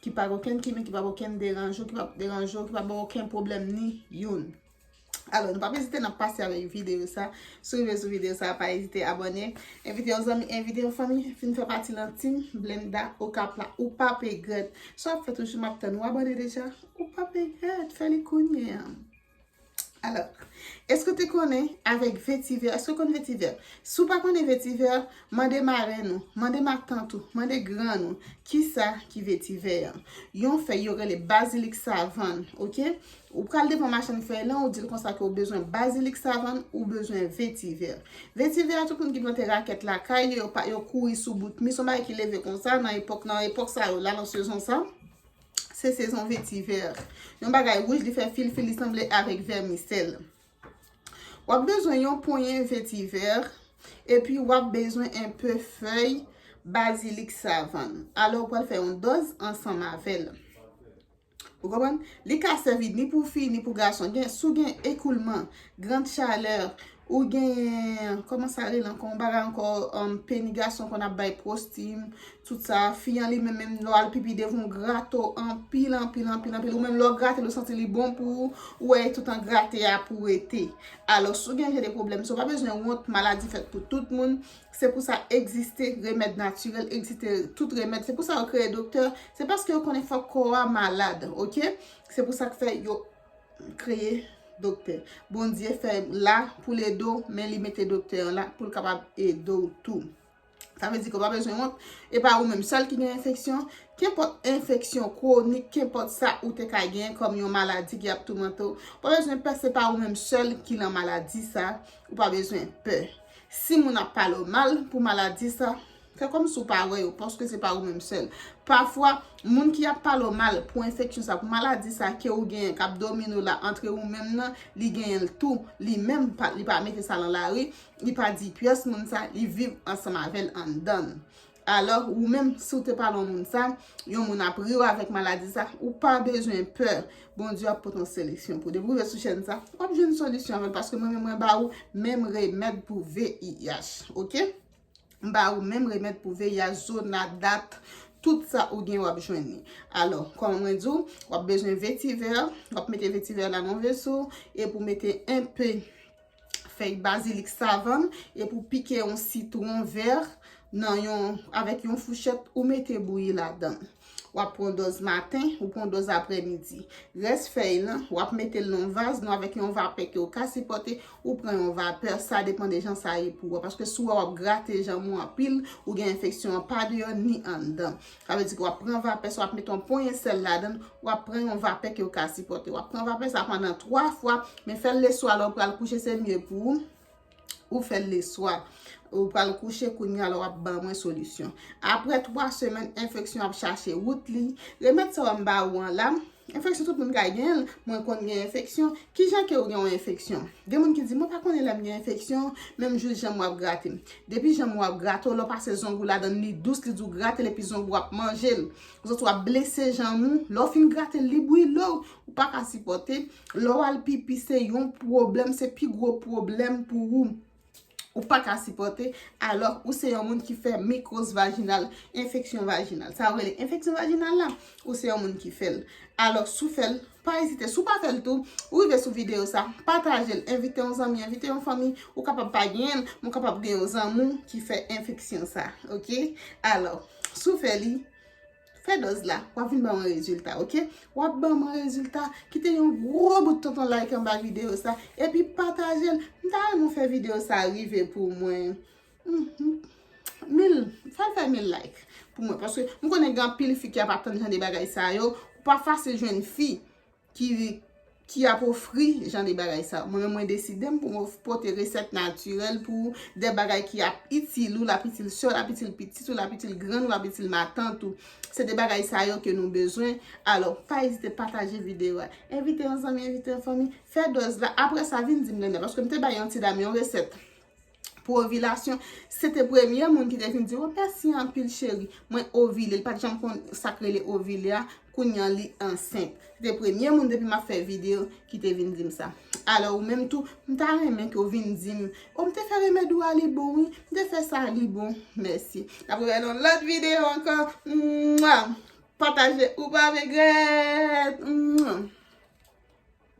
ki pa gen okenn kimik, ki pa gen okenn deranj ou, ki pa deranj ou, ki pa baw okenn pwoblèm ni youn. Alò, nou pa pe ezite nan pase avèk videyo sa. Si w rive sou videyo sa, pa ezite abòne. Envite yon zanmi, envite yon fanmi, vin fè pati nan team Blenda Okap la. Ou pap regrèt. Sa w ap fè toujou, m ap tann ou abòne deja. Ou pap regrèt, fè li kounye an. Alors, eske w te konnen avèk vetiver, eske w konnen vetiver? Si w pa konnen vetiver, mande marenn ou, mande matant ou, mande grann ou, ki sa ki vetiver an? Yon fèy yo rele bazilik savann, ok? Ou pral devan machann fèy lan, ou di l konsa ke w bezwen bazilik savann, ou bezwen vetiver. Vetiver a, tout moun ki plante rakèt lakay yo, yo kouri sou bout mi, son bagay ki leve konsa nan epòk sa yo la, nan sezon sa. Se sezon vetivè. Yon bagay wouj li fè fil fil li sanble avèk vèmisèl. W ap bezwen yon ponyen vetivè epi w ap bezwen enpe fèy bazilik savann. Alò ou pral fè yon dòz ansanm avè l. Ou konprann? Li ka sèvi ni pou fi ni pou gason. Si w gen ekoulman, grand chaleur. Ou gen Koman sa rele ankò yon bagay ankò peni gason konn ap bay prosti tout sa fi an li menm menm lè w al pipi devan ou grate w anpil anpil anpil anpil ou menm lè w grate l ou santi li bon pou ou ou wè e toutan grate a pou rete alò si w gen jan de pwoblèm sa w pa bezwen wont maladi fèt pou tout moun se pou sa egziste remèd natirèl egziste tout remèd se pou sa yo kreye doktè se paske yo konnen fòk kò a malad ok se pou sa k fè yo kreye doktè Bondye fè la pou l ede w men li mete doktè an la pou l kapab ede w tou sa vle di ke w pa bezwen wont e pa ou menm sèl ki gen enfeksyon kenpòt enfeksyon kwonik kenpòt sa ou te ka gen kòm yon maladi ki ap toumante w pa bezwen pè se pa ou menm sèl ki lan maladi sa ou pa bezwen pè si moun ap pale w mal pou maladi sa Fè kòm si w pa wè yo, paske se pa ou menm sèl. Pafwa, moun ki ap pale w mal pou enfeksyon sa, pou maladi sa ke ou genyen, k ap domine w la, antre ou menm nan, li genyen l tou. Li menm, li pa mete sa lan lari, li pa di pyès moun sa, li viv ansanm avè l anndan l. Alò, ou menm, si w te pale yon moun sa, yon moun ap ri w avèk maladi sa, ou pa bezwen pè. Bondye ap pote yon solisyon pou ou. Depi w rive sou chèn sa, w ap jwenn solisyon avè l, paske mwen menm mwen ba ou menm remèd pou VIH. Ok? m ba ou menm remèd pou VIH, zona, dat, tout sa ou gen wap jwenn li. Alò, kòman mwen di w, wap bezwen vetivè, wap mete vetivè la nan veso, epi w mete enpe fèy bazilik savann, epi w pike yon sitwon vè nan yon, avèk yon fouchèt, ou mete bouyi ladan. W ap pran dòz maten, ou pran dòz aprè midi. Rès fèy lan, w ap mete l nan yon vaz, nou avèk yon vapè ke ou ka sipòte, ou pran yon vapè, sa depan de jan sa ye pou ou. Paske si w wè w ap grate janm ou anpil, ou gen enfeksyon an pa deyò ni anndan. Sa vle di ke w ap pran vapè sa, w ap mete yon ponyen sèl ladan l, w ap pran yon vapè ke ou ka sipòte. W ap pran vapè sa pandan 3 fwa, men fè l leswa lè ou pral kouche se mye pou ou. Ou fè l leswa. Ou pral kouche kounye a la w ap ban mwen solisyon. Apre 3 semèn, enfeksyon ap chache wout li. Remèd sa yo m ba ou an la, enfeksyon tout moun ka gen l. Mwen konn gen enfeksyon. Ki jan ke ou gen yon enfeksyon? Gen moun ki di, mwen pa konnen lè m gen enfeksyon, men m jis janm ou ap grate m. Depi janm ou ap grate w, lè w pase zong ou ladan l, li dous, li di w grate l epi zong ou ap manje l. Ouzòt ou ap blese janm ou. Lè w fin grate l, li bwile w. Ou pa ka sipòte. Lè w al pipi se yon pwoblèm, se pi gwo pwoblèm pou ou. Ou pa ka sipòte, alò ou se yon moun ki fè mikwòz vajinal, enfeksyon vajinal. Sa yo rele enfeksyon vajinal la, ou se yon moun ki fè l. Alò, si w fè l, pa ezite. Si w pa fè l tou, ou rive sou videyo sa, pataje l, envite yon zanmi, envite yon fanmi. Ou kapab pa genyen l, men w kapab gen yon zanmi w ki fè enfeksyon sa. Ok? Alò, si w fè li, Fè dòz la, wap vin ban mwen rezilta ok. Wap ban mwen rezilta, kite yon gwo bout tonton like anba videyo sa, epi pataje l. M ta renmen w fè videyo sa rive pou mwen, mil, fè l fè mil like pou mwen. Paske m konnen gen anpil fi ki ap atann jan de bagay sa yo. Ou pa fasil jwenn fi ki ap ofri jan de bagay sa yo. Mwen menm mwen deside m pou m pote resèt natirèl pou ou, de bagay ki ap itil ou, l ap itil sè w, l ap itil pitit ou, l ap itil grann ou, l ap itil matant ou. Se de bagay sa yo ke nou bezwen. Alò, pa ezite pataje videyo a. Envite yon zanmi, envite yon fanmi. Fè dòz la. Apre sa, vin di m lè n ap. Paske m te bay yon ti dam yon resèt. pou ovilasyon, se te premye moun ki te vin di w mèsi anpil cheri, mwen ovile, li pa t janm konn sa k rele ovile a, kounye an li ansent. Se te premye moun depi m ap fè videyo ki te vin di m sa. Alò ou menm tou, m ta renmen ke w vin di m, o m te fè remèd ou a li bon wi, m te fè sa li bon, mèsi. N ap rewè nan lòt videyo ankò, mwa! Pataje ou pa regrèt! Mwa!